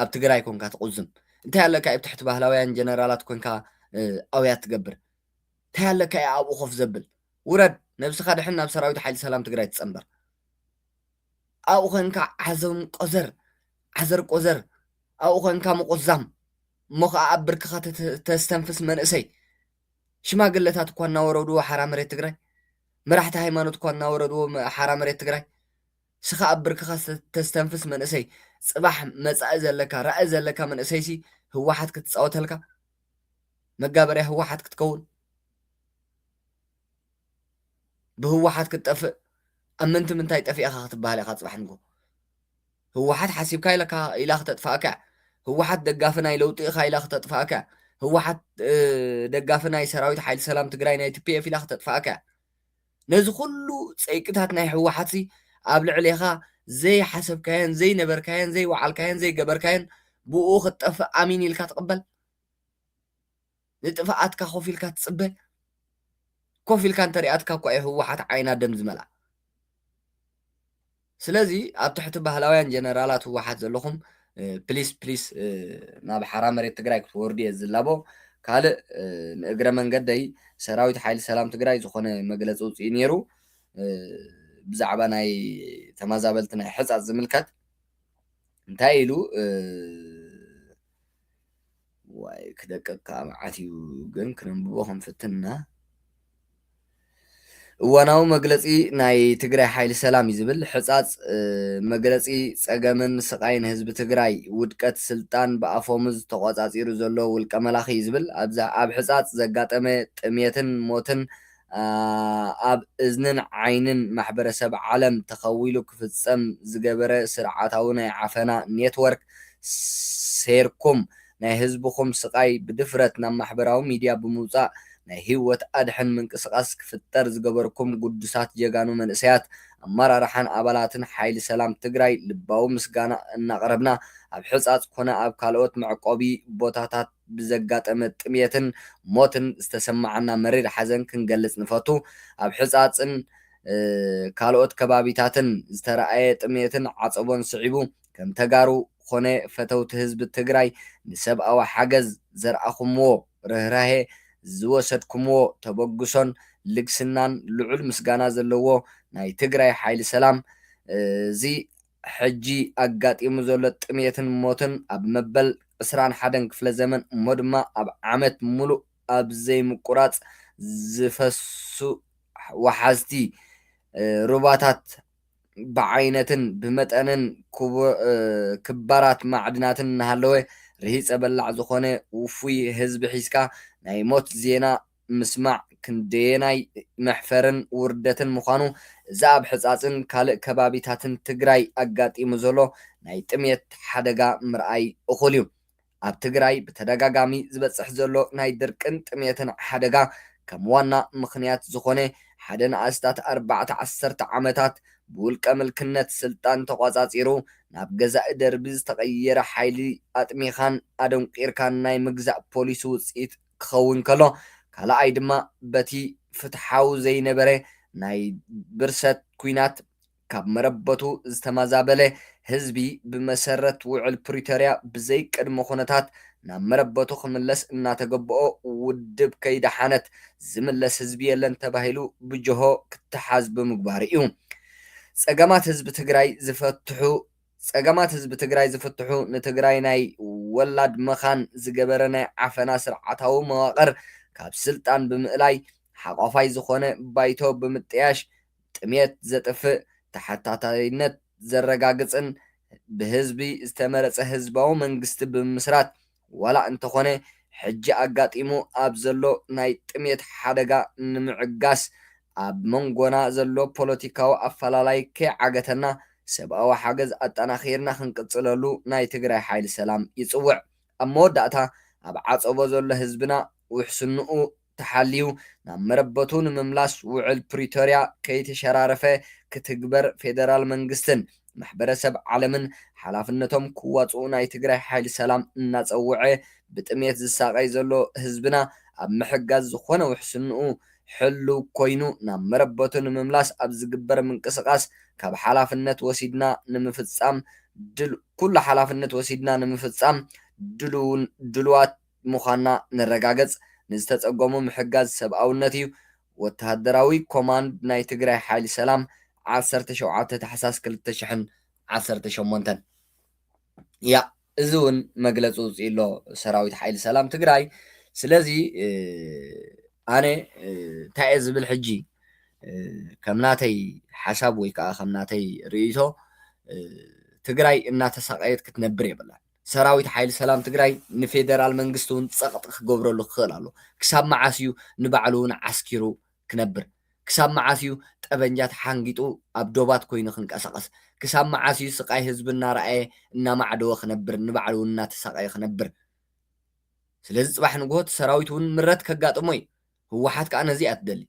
ኣብ ትግራይ ኮንካ ትቁዝም እንታይ ኣለካ እዩ ትሕቲ ባህላውያን ጀነራላት ኮንካ ኣውያት ትገብር እንታይ ኣለካ እዩ ኣብኡ ኮፍ ዘብል ውረድ ነብስኻ ድሕን ናብ ሰራዊት ሓይሊ ሰላም ትግራይ ትፀንበር ኣብኡ ኮንካ ዓዘም ቆዘር ዓዘር ቆዘር ኣብኡ ኮንካ ምቁዛም እሞ ከኣ ኣብ ብርክኻ ተስተንፍስ መንእሰይ ሽማግለታት እኳ እናወረድዎ ሓራ መሬት ትግራይ መራሕቲ ሃይማኖት እኳ እናወረድዎ ሓራ መሬት ትግራይ ስኻ ኣብ ብርክኻ ተስተንፍስ መንእሰይ ጽባሕ መጻኢ ዘለካ ራኢ ዘለካ መንእሰይሲ ህወሓት ክትጻወተልካ መጋበርያ ህወሓት ክትከውን ብህወሓት ክትጠፍእ ኣብ ምንቲ ምንታይ ጠፊእኻ ክትበሃል ኢኻ ፅባሕ ንግሆ ህወሓት ሓሲብካ ኢለካ ኢላ ክተጥፋእካ እያ ህወሓት ደጋፊ ናይ ለውጢ ኢኻ ኢላ ክተጥፋእካ እያ ህወሓት ደጋፊ ናይ ሰራዊት ሓይሊ ሰላም ትግራይ ናይ ቲፒኤፍ ኢላ ክተጥፋእካ እያ ነዚ ኩሉ ፀይቅታት ናይ ህወሓት ሲ ኣብ ልዕሌኻ ዘይሓሰብካዮን ዘይነበርካዮን ዘይወዓልካዮን ዘይገበርካዮን ብኡ ክትጠፍእ ኣሚን ኢልካ ትቕበል ንጥፍኣትካ ኮፍ ኢልካ ትጽበ ኮፍ ኢልካ እንተሪኣትካ እኳ እዩ ህወሓት ዓይና ደም ዝመልኣ ስለዚ ኣብ ትሕቲ ባህላውያን ጀነራላት ህወሓት ዘለኹም ፕሊስ ፕሊስ ናብ ሓራ መሬት ትግራይ ክትወርዱ እየ ዝላቦ ካልእ ንእግረ መንገደይ ሰራዊት ሓይሊ ሰላም ትግራይ ዝኾነ መግለፂ ውፅኢ ነይሩ ብዛዕባ ናይ ተመዛበልቲ ናይ ሕፃፅ ዝምልከት እንታይ ኢሉ ዋይ ክደቀካ መዓት እዩ ግን ክነንብቦ ክንፍትን እና። እዋናዊ መግለፂ ናይ ትግራይ ሓይሊ ሰላም እዩ ዝብል ሕፃፅ መግለፂ ፀገምን ስቓይን ህዝቢ ትግራይ ውድቀት ስልጣን ብኣፎሙዝ ተቖፃፂሩ ዘሎ ውልቀ መላኺ እዩ ዝብል ኣብ ሕፃፅ ዘጋጠመ ጥምየትን ሞትን ኣብ እዝንን ዓይንን ማሕበረሰብ ዓለም ተኸዊሉ ክፍፀም ዝገበረ ስርዓታዊ ናይ ዓፈና ኔትወርክ ሴርኩም ናይ ህዝብኹም ስቓይ ብድፍረት ናብ ማሕበራዊ ሚድያ ብምውፃእ ናይ ህይወት ኣድሕን ምንቅስቓስ ክፍጠር ዝገበርኩም ግዱሳት ጀጋኑ መንእሰያት ኣመራርሓን ኣባላትን ሓይሊ ሰላም ትግራይ ልባዊ ምስጋና እናቕረብና ኣብ ሕፃፅ ኮነ ኣብ ካልኦት መዕቆቢ ቦታታት ብዘጋጠመ ጥምየትን ሞትን ዝተሰማዓና መሪር ሓዘን ክንገልጽ ንፈቱ። ኣብ ሕጻጽን ካልኦት ከባቢታትን ዝተራኣየ ጥምየትን ዓጸቦን ስዒቡ፣ ከም ተጋሩ ኮነ ፈተውቲ ህዝቢ ትግራይ ንሰብኣዊ ሓገዝ ዘርኣኹምዎ ርህራሄ፣ ዝወሰድኩምዎ ተበግሶን ልግስናን ልዑል ምስጋና ዘለዎ ናይ ትግራይ ሓይሊ ሰላም እዚ ሕጂ ኣጋጢሙ ዘሎ ጥምየትን ሞትን ኣብ መበል ዕስራን ሓደን ክፍለ ዘመን እሞ ድማ ኣብ ዓመት ምሉእ ኣብ ዘይምቁራጽ ዝፈሱ ወሓዝቲ ሩባታት ብዓይነትን ብመጠንን ክባራት ማዕድናትን እናሃለወ ርሂጸ በላዕ ዝኾነ ውፉይ ህዝቢ ሒዝካ ናይ ሞት ዜና ምስማዕ ክንደየናይ መሕፈርን ውርደትን ምዃኑ እዚ ኣብ ሕፃፅን ካልእ ከባቢታትን ትግራይ ኣጋጢሙ ዘሎ ናይ ጥምየት ሓደጋ ምርኣይ እኹል እዩ። ኣብ ትግራይ ብተደጋጋሚ ዝበፅሕ ዘሎ ናይ ድርቅን ጥምየትን ሓደጋ ከም ዋና ምኽንያት ዝኾነ ሓደ ንኣስታት ኣርባዕተ ዓሰርተ ዓመታት ብውልቀ ምልክነት ስልጣን ተቋፃፂሩ ናብ ገዛኢ ደርቢ ዝተቐየረ ሓይሊ ኣጥሚኻን ኣደንቂርካን ናይ ምግዛእ ፖሊሲ ውፅኢት ክኸውን ከሎ፣ ካልኣይ ድማ በቲ ፍትሓዊ ዘይነበረ ናይ ብርሰት ኲናት ካብ መረበቱ ዝተመዛበለ ህዝቢ ብመሰረት ውዕል ፕሪቶርያ ብዘይ ቅድመ ኩነታት ናብ መረበቱ ክምለስ እናተገበኦ ውድብ ከይደሓነት ዝምለስ ህዝቢ የለን ተባሂሉ ብጀሆ ክተሓዝ ብምግባሩ እዩ። ፀገማት ህዝቢ ትግራይ ዝፈትሑ ፀገማት ህዝቢ ትግራይ ዝፍትሑ ንትግራይ ናይ ወላድ መኻን ዝገበረ ናይ ዓፈና ስርዓታዊ መዋቕር ካብ ስልጣን ብምእላይ ሓቋፋይ ዝኾነ ባይቶ ብምጥያሽ ጥምየት ዘጥፍእ፣ ተሓታታይነት ዘረጋግፅን ብህዝቢ ዝተመረፀ ህዝባዊ መንግስቲ ብምምስራት ዋላ እንተኾነ ሕጂ ኣጋጢሙ ኣብ ዘሎ ናይ ጥሜት ሓደጋ ንምዕጋስ ኣብ መንጎና ዘሎ ፖለቲካዊ ኣፈላላይ ከይዓገተና ሰብኣዊ ሓገዝ ኣጠናኺርና ክንቅፅለሉ ናይ ትግራይ ሓይሊ ሰላም ይፅውዕ። ኣብ መወዳእታ ኣብ ዓፀቦ ዘሎ ህዝብና ውሕስንኡ ተሓልዩ ናብ መረበቱ ንምምላስ ውዕል ፕሪቶርያ ከይተሸራረፈ ክትግበር ፌደራል መንግስትን ማሕበረሰብ ዓለምን ሓላፍነቶም ክዋፅኡ ናይ ትግራይ ሓይሊ ሰላም እናፀወዐ ብጥምየት ዝሳቐይ ዘሎ ህዝብና ኣብ ምሕጋዝ ዝኾነ ውሕስንኡ ሕልው ኮይኑ ናብ መረበቱ ንምምላስ ኣብ ዝግበር ምንቅስቓስ ካብ ሓላፍነት ወሲድና ንምፍፃም ኩሉ ሓላፍነት ወሲድና ንምፍፃም ድሉውን ድሉዋት ምዃንና ነረጋገጽ ንዝተጸገሙ ምሕጋዝ ሰብኣውነት እዩ ወተሃደራዊ ኮማንድ ናይ ትግራይ ሓይሊ ሰላም ዓሰርተ ሸውዓተ ታሕሳስ ክልተ ሽሕን ዓሰርተ ሸሞንተን ያእ እዚ እውን መግለፂ ውፅኢ ኣሎ ሰራዊት ሓይሊ ሰላም ትግራይ ስለዚ ኣነ እንታይ እየ ዝብል ሕጂ ከም ናተይ ሓሳብ ወይ ከዓ ከም ናተይ ርእይቶ ትግራይ እናተሳቀየት ክትነብር የብላን ሰራዊት ሓይሊ ሰላም ትግራይ ንፌደራል መንግስቲ እውን ፀቕጢ ክገብረሉ ክኽእል ኣሎ። ክሳብ መዓስ እዩ ንባዕሉ እውን ዓስኪሩ ክነብር? ክሳብ መዓስ እዩ ጠበንጃ ተሓንጊጡ ኣብ ዶባት ኮይኑ ክንቀሳቐስ? ክሳብ መዓስ እዩ ስቓይ ህዝቢ እናረኣየ እናማዕደወ ክነብር ንባዕሉ እውን እናተሳቐየ ክነብር? ስለዚ ፅባሕ ንግሆ እቲ ሰራዊት እውን ምረት ከጋጥሞ እዩ። ህወሓት ከዓ ነዚ እያ ትደሊ።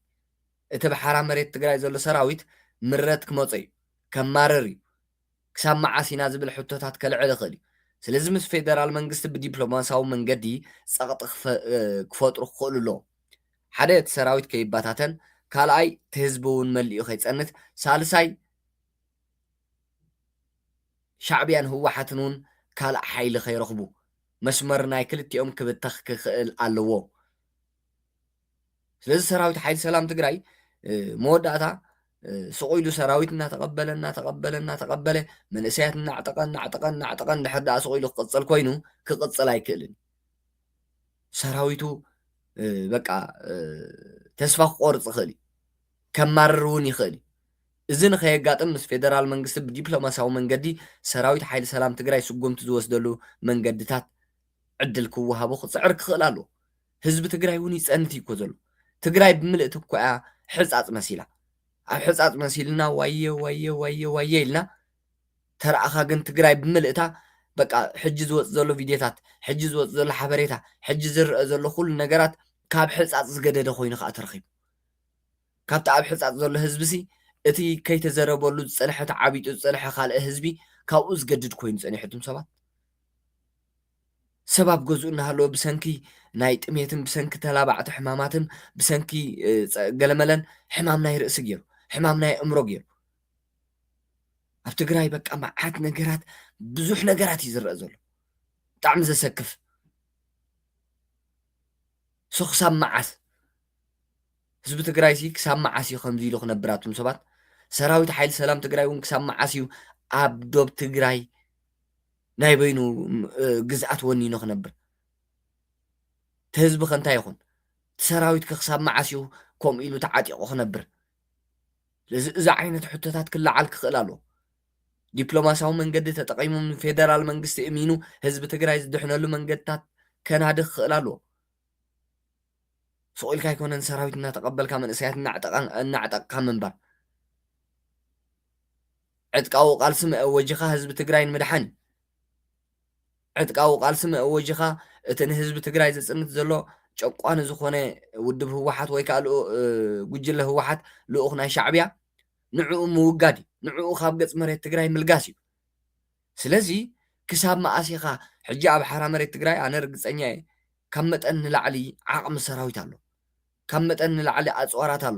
እቲ ኣብ ሓራ መሬት ትግራይ ዘሎ ሰራዊት ምረት ክመፆ እዩ። ከማርር እዩ። ክሳብ መዓስ ኢና ዝብል ሕቶታት ከልዕል ይኽእል እዩ። ስለዚ ምስ ፌደራል መንግስቲ ብዲፕሎማስያዊ መንገዲ ጸቕጢ ክፈጥሩ ክኽእሉ ኣለዎም። ሓደ እቲ ሰራዊት ከይበታተን፣ ካልኣይ እቲ ህዝቢ እውን መሊኡ ከይጸንት፣ ሳልሳይ ሻዕብያን ህወሓትን እውን ካልእ ሓይሊ ከይረኽቡ፣ መስመር ናይ ክልቲኦም ክብተኽ ክኽእል ኣለዎ። ስለዚ ሰራዊት ሓይሊ ሰላም ትግራይ መወዳእታ ስቑ ኢሉ ሰራዊት እናተቐበለ እናተቐበለ እናተቐበለ መንእሰያት እናዕጠቐ እናዕጠቐ እናዕጠቐ እንድሕር ደኣ ስቑ ኢሉ ክቕፅል ኮይኑ ክቕፅል ኣይክእልን ሰራዊቱ በቃ ተስፋ ክቆርፅ ይኽእል እዩ ከማርር እውን ይኽእል እዩ እዚ ንኸየጋጥም ምስ ፌደራል መንግስቲ ብዲፕሎማሲያዊ መንገዲ ሰራዊት ሓይሊ ሰላም ትግራይ ስጉምቲ ዝወስደሉ መንገድታት ዕድል ክወሃቦ ክፅዕር ክኽእል ኣለዎ ህዝቢ ትግራይ እውን ይፀንት እዩ እኮ ዘሎ ትግራይ ብምልእቲ እኮ እያ ሕፃፅ መሲላ ኣብ ሕፃፅ መሲልና ዋየ ዋየ ዋየ ዋየ ኢልና ተረኣኻ ግን ትግራይ ብምልእታ በቃ ሕጂ ዝወፅ ዘሎ ቪድዮታት ሕጂ ዝወፅ ዘሎ ሓበሬታ ሕጂ ዝረአ ዘሎ ኩሉ ነገራት ካብ ሕፃፅ ዝገደደ ኮይኑ ከዓ ተረኺቡ ካብቲ ኣብ ሕፃፅ ዘሎ ህዝቢ ሲ እቲ ከይተዘረበሉ ዝፀንሐ ተዓቢጡ ዝፀንሐ ካልእ ህዝቢ ካብኡ ዝገድድ ኮይኑ ፀኒሑ እቱም ሰባት ሰብ ኣብ ገዝኡ እናሃለወ ብሰንኪ ናይ ጥሜትን ብሰንኪ ተላባዕቲ ሕማማትን ብሰንኪ ገለመለን ሕማም ናይ ርእሲ ገይሩ ሕማም ናይ እምሮ ገይሩ ኣብ ትግራይ በቃ መዓት ነገራት ብዙሕ ነገራት እዩ ዝረአ ዘሎ ብጣዕሚ ዘሰክፍ ሶ ክሳብ መዓስ ህዝቢ ትግራይ ሲ ክሳብ መዓስ እዩ ከምዚ ኢሉ ክነብር ኣቱም ሰባት ሰራዊት ሓይሊ ሰላም ትግራይ እውን ክሳብ መዓስ እዩ ኣብ ዶብ ትግራይ ናይ በይኑ ግዝኣት ወኒኑ ክነብር ትህዝቢ ከንታይ ይኹን ትሰራዊት ክክሳብ መዓስ እዩ ከምኡ ኢሉ ተዓጢቑ ክነብር ስለዚ እዚ ዓይነት ሕቶታት ክለዓል ክኽእል ኣለዎ ዲፕሎማሲያዊ መንገዲ ተጠቒሙ ንፌደራል መንግስቲ እሚኑ ህዝቢ ትግራይ ዝድሕነሉ መንገድታት ከናዲ ክኽእል ኣለዎ ሱቕ ኢልካ ኣይኮነን ሰራዊት እናተቐበልካ መንእሰያት እናዕጠቕካ ምንባር ዕጥቃዊ ቃልሲ መእወጂኻ ህዝቢ ትግራይ ንምድሓን እዩ። ዕጥቃዊ ቃልሲ መእወጂኻ እቲ ንህዝቢ ትግራይ ዘፅንት ዘሎ ጨቋኒ ዝኾነ ውድብ ህወሓት ወይ ከዓ ጉጅለ ህወሓት ልኡኽ ናይ ሻዕቢያ ንዕኡ ምውጋድ እዩ። ንዕኡ ካብ ገፅ መሬት ትግራይ ምልጋስ እዩ። ስለዚ ክሳብ መኣስ ኢኻ ሕጂ ኣብ ሓራ መሬት ትግራይ ኣነ ርግፀኛ እየ ካብ መጠን ንላዕሊ ዓቕሚ ሰራዊት ኣሎ። ካብ መጠን ንላዕሊ ኣፅዋራት ኣሎ።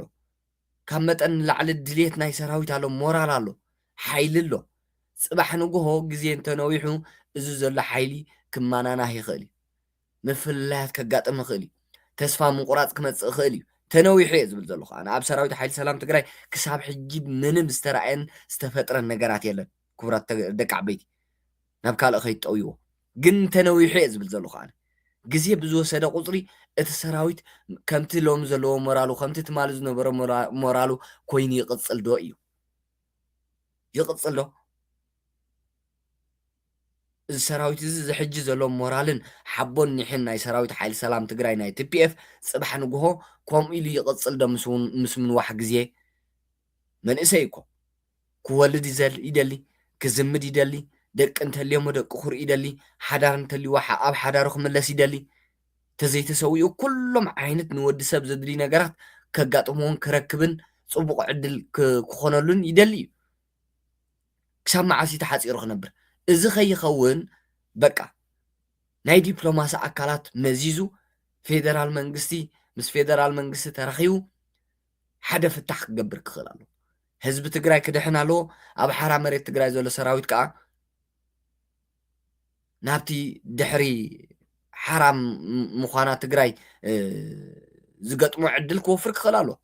ካብ መጠን ንላዕሊ ድሌት ናይ ሰራዊት ኣሎ፣ ሞራል ኣሎ፣ ሓይሊ ኣሎ። ጽባሕ ንግሆ ግዜ እንተነዊሑ እዚ ዘሎ ሓይሊ ክመናናህ ይኽእል እዩ። ምፍልላያት ከጋጥም ይኽእል እዩ። ተስፋ ምቑራጽ ክመጽእ ይኽእል እዩ። ተነዊሑ እየ ዝብል ዘለኹ ኣነ። ኣብ ሰራዊት ሓይሊ ሰላም ትግራይ ክሳብ ሕጂ ምንም ዝተራእየን ዝተፈጥረን ነገራት የለን ክቡራት ደቂ ዓበይቲ። ናብ ካልእ ከይትጠውይዎ ግን ተነዊሑ እየ ዝብል ዘለኹ ኣነ ግዜ ብዝወሰደ ቁጽሪ እቲ ሰራዊት ከምቲ ሎሚ ዘለዎ ሞራሉ ከምቲ ትማሊ ዝነበሮ ሞራሉ ኮይኑ ይቕጽል ዶ እዩ ይቕጽል ዶ እዚ ሰራዊት እዚ ዝሕጂ ዘሎ ሞራልን ሓቦን ኒሕን ናይ ሰራዊት ሓይሊ ሰላም ትግራይ ናይ ቲፒኤፍ ጽባሕ ንግሆ ከምኡ ኢሉ ይቕጽል ዶ ምስ ምንዋሕ ግዜ መንእሰይ እኮ ክወልድ ይደሊ ክዝምድ ይደሊ ደቂ እንተልዮሞ ደቂ ክርኢ ይደሊ ሓዳር እንተልይዎ ኣብ ሓዳሩ ክምለስ ይደሊ ተዘይተሰዊኡ ኩሎም ዓይነት ንወዲ ሰብ ዘድልዩ ነገራት ከጋጥምዎን ክረክብን ጽቡቕ ዕድል ክኾነሉን ይደሊ እዩ ክሳብ መዓስ እዩ ተሓጺሩ ክነብር እዚ ከይኸውን በቃ ናይ ዲፕሎማሲ ኣካላት መዚዙ ፌደራል መንግስቲ ምስ ፌደራል መንግስቲ ተራኺቡ ሓደ ፍታሕ ክገብር ክኽእል ኣለዎ። ህዝቢ ትግራይ ክድሕን ኣለዎ። ኣብ ሓራ መሬት ትግራይ ዘሎ ሰራዊት ከዓ ናብቲ ድሕሪ ሓራ ምዃና ትግራይ ዝገጥሞ ዕድል ክወፍር ክኽእል ኣለዎ።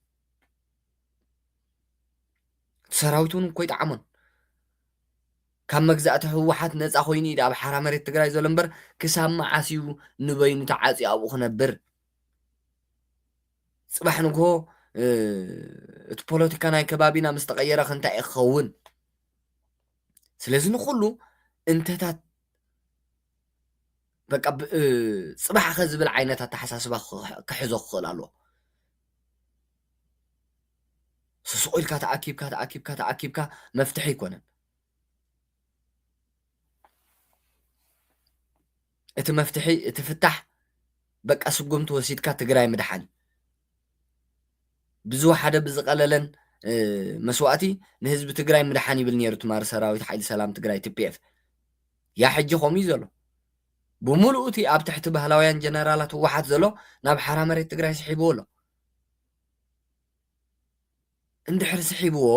ሰራዊት እውን ኮይጠዓሞን ካብ መግዛእቲ ህወሓት ነፃ ኮይኑ እዩ ኣብ ሓራ መሬት ትግራይ ዘሎ እምበር ክሳብ መዓስ እዩ ንበይኑ ተዓፅዩ ኣብኡ ክነብር ጽባሕ ንግሆ እቲ ፖለቲካ ናይ ከባቢና ምስ ተቐየረኽ እንታይ እዩ ክኸውን? ስለዚ ንኹሉ እንተታት በቃ ጽባሕ ከ ዝብል ዓይነት ኣተሓሳስባ ክሕዞ ክኽእል ኣለዎ። ስሱቕ ኢልካ ተኣኪብካ ተኣኪብካ ተኣኪብካ መፍትሒ ኣይኮነን። እቲ መፍትሒ እቲ ፍታሕ በቃ ስጉምቲ ወሲድካ ትግራይ ምድሓን ብዝወሓደ ብዝቐለለን መስዋእቲ ንህዝቢ ትግራይ ምድሓን ይብል ነይሩ ትማሪ ሰራዊት ሓይሊ ሰላም ትግራይ ቲፒኤፍ ያ ሕጂ ከምኡ እዩ ዘሎ ብምሉኡ እቲ ኣብ ትሕቲ ባህላውያን ጀነራላት ህወሓት ዘሎ ናብ ሓራ መሬት ትግራይ ስሒብዎ ኣሎ እንድሕር ስሒብዎ፣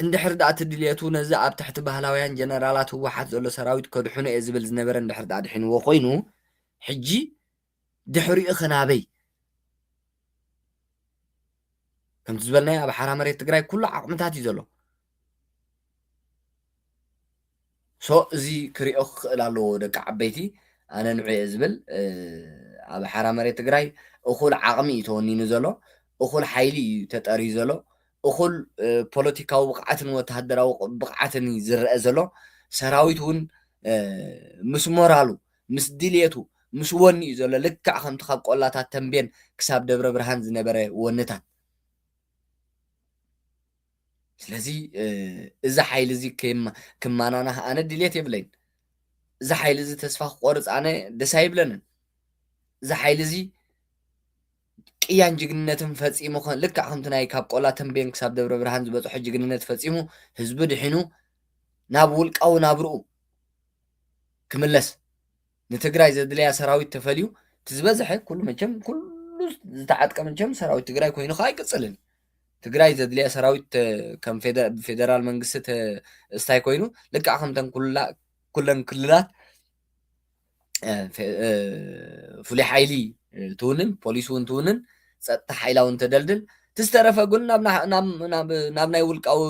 እንድሕር ድኣ እቲ ድልየቱ ነዚ ኣብ ትሕቲ ባህላውያን ጀነራላት ህወሓት ዘሎ ሰራዊት ከድሕኖ እየ ዝብል ዝነበረ እንድሕር ድኣ ኣድሒንዎ ኮይኑ፣ ሕጂ ድሕሪኡኸ ናበይ? ከምቲ ዝበልናዮ ኣብ ሓራ መሬት ትግራይ ኩሉ ዓቕምታት እዩ ዘሎ። So እዚ ክሪኦ ክክእል ኣለዎ ደቂ ዓበይቲ ኣነ ንዑ እየ ዝብል ኣብ ሓራ መሬት ትግራይ እኩል ዓቅሚ እዩ ተወኒኑ ዘሎ እኩል ሓይሊ እዩ ተጠርዩ ዘሎ እኩል ፖለቲካዊ ብቅዓትን ወተሃደራዊ ብቅዓትን እዩ ዝረኣ ዘሎ ሰራዊት እውን ምስ ሞራሉ ምስ ድልየቱ ምስ ወኒ እዩ ዘሎ ልክዕ ከምቲ ካብ ቆላታት ተንቤን ክሳብ ደብረ ብርሃን ዝነበረ ወንታት ስለዚ እዚ ሓይሊ እዚ ክማናናህ ኣነ ድሌት የብለይን እዚ ሓይሊ እዚ ተስፋ ክቆርፅ ኣነ ደስ ኣይብለንን እዚ ሓይሊ እዚ ቅያን ጅግንነትን ፈፂሙ ልክዕ ከምቲ ናይ ካብ ቆላ ተንቤን ክሳብ ደብረ ብርሃን ዝበፅሖ ጅግንነት ፈፂሙ ህዝቢ ድሒኑ ናብ ውልቃዊ ናብርኡ ክምለስ ንትግራይ ዘድልያ ሰራዊት ተፈልዩ እቲ ዝበዝሐ ኩሉ መቸም ኩሉ ዝተዓጥቀ መቸም ሰራዊት ትግራይ ኮይኑ ከዓ ኣይቅፅልን እዩ ትግራይ ዘድልያ ሰራዊት ከም ፌደራል መንግስቲ እስታይ ኮይኑ ልክዕ ከምተን ኩለን ክልላት ፍሉይ ሓይሊ ትውንን ፖሊስ እውን ትውንን ፀጥታ ሓይላ እውን ተደልድል እቲ ዝተረፈ ግን ናብ ናይ ውልቃዊ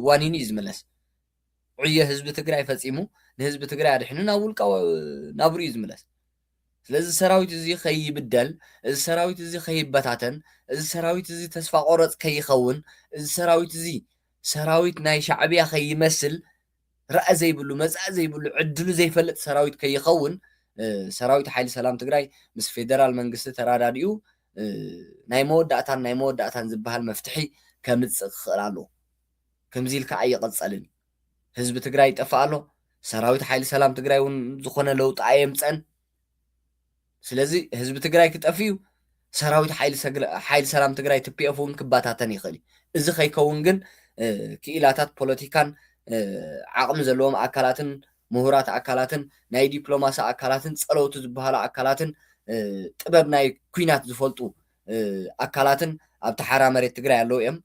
ዋኒን እዩ ዝምለስ ዕዮ ህዝቢ ትግራይ ፈፂሙ ንህዝቢ ትግራይ ኣድሒኑ ናብ ውልቃዊ ናብርኡ እዩ ዝምለስ። ስለዚ እዚ ሰራዊት እዚ ከይብደል፣ እዚ ሰራዊት እዚ ከይበታተን፣ እዚ ሰራዊት እዚ ተስፋ ቆረፅ ከይኸውን፣ እዚ ሰራዊት እዚ ሰራዊት ናይ ሻዕብያ ከይመስል ራኢ ዘይብሉ መፃኢ ዘይብሉ ዕድሉ ዘይፈልጥ ሰራዊት ከይኸውን ሰራዊት ሓይሊ ሰላም ትግራይ ምስ ፌደራል መንግስቲ ተራዳዲኡ ናይ መወዳእታን ናይ መወዳእታን ዝበሃል መፍትሒ ከምፅእ ክኽእል ኣለዎ። ከምዚ ኢልካ ኣይቕፀልን ህዝቢ ትግራይ ይጠፍእ ኣሎ ሰራዊት ሓይሊ ሰላም ትግራይ እውን ዝኾነ ለውጢ ኣየምፀን ስለዚ ህዝቢ ትግራይ ክጠፍ እዩ ሰራዊት ሓይሊ ሰላም ትግራይ ትፒኤፍ እውን ክበታተን ይኽእል እዩ እዚ ከይከውን ግን ክኢላታት ፖለቲካን ዓቕሚ ዘለዎም ኣካላትን ምሁራት ኣካላትን ናይ ዲፕሎማሲ ኣካላትን ፀለውቲ ዝበሃሉ ኣካላትን ጥበብ ናይ ኩናት ዝፈልጡ ኣካላትን ኣብቲ ሓራ መሬት ትግራይ ኣለው እዮም።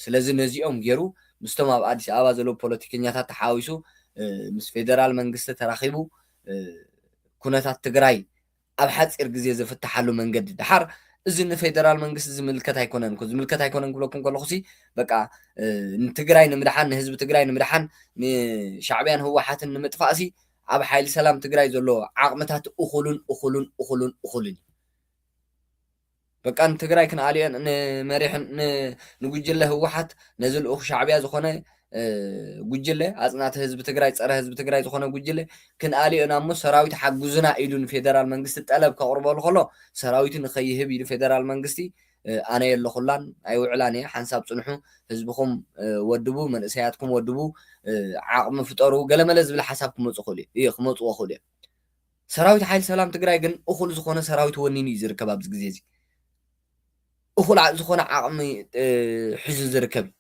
ስለዚ ነዚኦም ገይሩ ምስቶም ኣብ ኣዲስ ኣበባ ዘለው ፖለቲከኛታት ተሓዋዊሱ ምስ ፌደራል መንግስቲ ተራኺቡ ኩነታት ትግራይ ኣብ ሓፂር ግዜ ዝፍታሓሉ መንገዲ ደሓር እዚ ንፌደራል መንግስቲ ዝምልከት ኣይኮነን እኮ ዝምልከት ኣይኮነን ክብለኩም ከለኹ ሲ በቃ ንትግራይ ንምድሓን ንህዝቢ ትግራይ ንምድሓን ንሻዕቢያን ህወሓትን ንምጥፋእ ሲ ኣብ ሓይሊ ሰላም ትግራይ ዘሎ ዓቕምታት እኹሉን እኹሉን እኹሉን እኹልን እዩ በቃ ንትግራይ ክንኣልዮን ንመሪሕን ንጉጅለ ህወሓት ነዚ ልኡኽ ሻዕቢያ ዝኾነ ጉጅለ ኣፅናቲ ህዝቢ ትግራይ ፀረ ህዝቢ ትግራይ ዝኾነ ጉጅለ ክንኣልዮ ኢና እሞ ሰራዊት ሓጉዙና ኢሉ ንፌደራል መንግስቲ ጠለብ ከቕርበሉ ከሎ ሰራዊቱ ንኸይህብ ኢሉ ፌደራል መንግስቲ ኣነ የለኹላን ኣይውዕላን እየ ሓንሳብ ፅንሑ ህዝብኹም ወድቡ መንእሰያትኩም ወድቡ ዓቕሚ ፍጠሩ ገለመለ ዝብል ሓሳብ ክመፁ ክእሉ እዩ ክመፅዎ ክእሉ እዮም ሰራዊት ሓይሊ ሰላም ትግራይ ግን እኹል ዝኾነ ሰራዊት ወኒኑ እዩ ዝርከብ ኣብዚ ግዜ እዚ እኹል ዓ- ዝኾነ ዓቕሚ እ፣ ሒዙ ዝርከብ እዩ።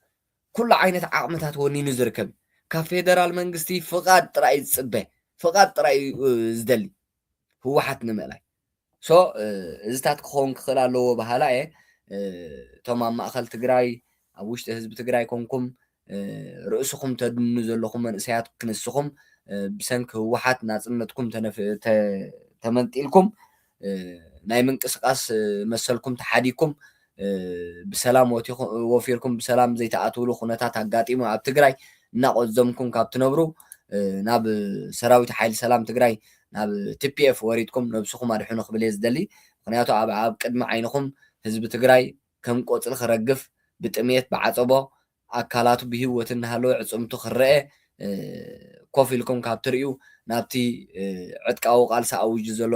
ኩሉ ዓይነት ዓቕምታት ወኒኑ ዝርከብ እዩ። ካብ ፌደራል መንግስቲ ፍቓድ ጥራይ እዩ ዝፅበ ፍቓድ ጥራይ እዩ እ፣ ዝደሊ ህወሓት ንምእላይ ሶ እ፣ እዚታት ክኸውን ክኽእል ኣለዎ በሃላ እየ እ፣ እቶም ኣብ ማእኸል ትግራይ ኣብ ውሽጢ ህዝቢ ትግራይ ኮንኩም ርእስኹም ተድንኑ ዘለኹም መንእሰያት ክንስኹም ብሰንኪ ህወሓት ናጽነትኩም ተመንጢልኩም ናይ ምንቅስቃስ መሰልኩም ተሓዲግኩም ብሰላም ወፊርኩም ብሰላም ዘይትኣትውሉ ኩነታት ኣጋጢሙ ኣብ ትግራይ እናቆዘምኩም ካብ ትነብሩ ናብ ሰራዊት ሓይሊ ሰላም ትግራይ ናብ ቲፒኤፍ ወሪድኩም ነብስኹም ኣድሕኑ ክብል እየ ዝደሊ ምክንያቱ ኣብ ቅድሚ ዓይንኹም ህዝቢ ትግራይ ከም ቆጽሊ ክረግፍ፣ ብጥምየት፣ ብዓጸቦ ኣካላቱ ብሂወት እናሃለወ ዕጽምቱ ክረኤ ኮፍ ኢልኩም ካብ ትርእዩ ናብቲ ዕጥቃዊ ቃልሲ ኣዊጁ ዘሎ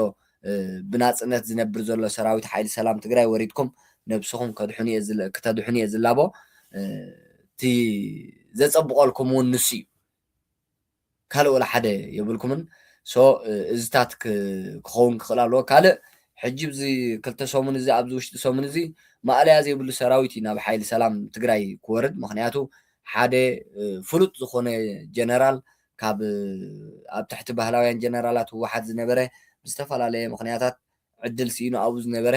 ብናጽነት ዝነብር ዘሎ ሰራዊት ሓይሊ ሰላም ትግራይ ወሪድኩም ነብስኹም ከድሕኑ እየ ክተድሕኑ እየ ዝላቦ እቲ ዘጸብቐልኩም ውን ንሱ እዩ። ካልእ ወላ ሓደ የብልኩምን so እዝታት ክከውን ክክእል ኣለዎ ካልእ ሕጂ ኣብዚ ክልተ ሰሙን እዚ ኣብዚ ውሽጢ ሰሙን እዚ ማእለያ ዘይብሉ ሰራዊት እዩ ናብ ሓይሊ ሰላም ትግራይ ክወርድ ምክንያቱ ሓደ ፍሉጥ ዝኮነ ጀነራል ካብ ኣብ ትሕቲ ባህላውያን ጀነራላት ህወሓት ዝነበረ ብዝተፈላለየ ምክንያታት ዕድል ስኢኑ ኣብኡ ዝነበረ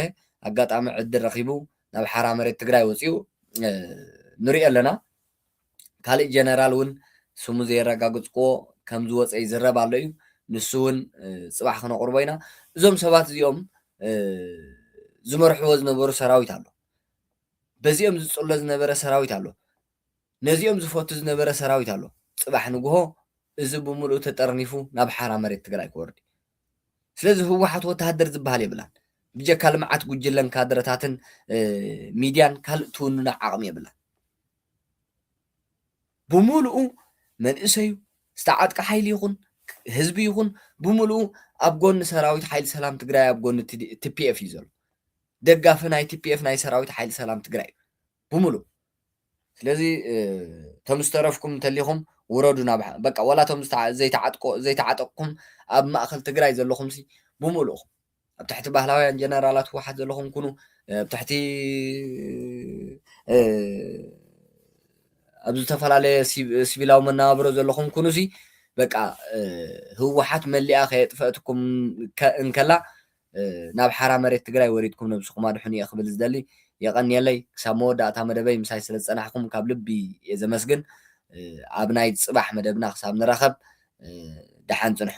ኣጋጣሚ ዕድል ረኪቡ ናብ ሓራ መሬት ትግራይ ወፂኡ ንሪኦ ኣለና። ካልእ ጀነራል እውን ስሙ ዘየረጋገፅኩዎ ከም ዝወፀ ይዝረብ ኣሎ እዩ። ንሱ እውን ፅባሕ ክነቕርቦ ኢና። እዞም ሰባት እዚኦም ዝመርሕዎ ዝነበሩ ሰራዊት ኣሎ። በዚኦም ዝፅሎ ዝነበረ ሰራዊት ኣሎ። ነዚኦም ዝፈቱ ዝነበረ ሰራዊት ኣሎ። ፅባሕ ንግሆ እዚ ብምልኡ ተጠርኒፉ ናብ ሓራ መሬት ትግራይ ክወርድ እዩ። ስለዚ ህወሓት ወተሃደር ዝበሃል የብላን። ብጀካ ልምዓት ጉጅለን ካድረታትን ሚድያን ካልእ ትውንኖ ዓቕሚ የብላን። ብምሉኡ መንእሰዩ ዝተዓጥቀ ሓይሊ ይኹን ህዝቢ ይኹን ብምሉኡ ኣብ ጎኒ ሰራዊት ሓይሊ ሰላም ትግራይ ኣብ ጎኒ ቲፒኤፍ እዩ ዘሎ ደጋፊ ናይ ቲፒኤፍ ናይ ሰራዊት ሓይሊ ሰላም ትግራይ እዩ ብምሉእ ስለዚ እቶም ዝተረፍኩም እንተሊኹም ውረዱ ናብ በቃ ዋላ እቶም ዘይተዓጥቆ ዘይተዓጠቅኩም ኣብ ማእኸል ትግራይ ዘለኹምሲ ብምሉእኹም ኣብ ትሕቲ ባህላውያን ጀነራላት ህወሓት ዘለኹም ኩኑ ኣብ ትሕቲ ኣብ ዝተፈላለየ ሲቪላዊ መነባብሮ ዘለኹም ኩኑ ሲ በቃ ህወሓት መሊኣ ከየጥፈአትኩም እንከላ ናብ ሓራ መሬት ትግራይ ወሪድኩም ነብስኹም ኣድሕኑ እየ ክብል ዝደሊ የቐንየለይ ክሳብ መወዳእታ መደበይ ምሳይ ስለ ዝፀናሕኩም ካብ ልቢ እየ ዘመስግን ኣብ ናይ ፅባሕ መደብና ክሳብ ንራኸብ ደሓን ፅንሑ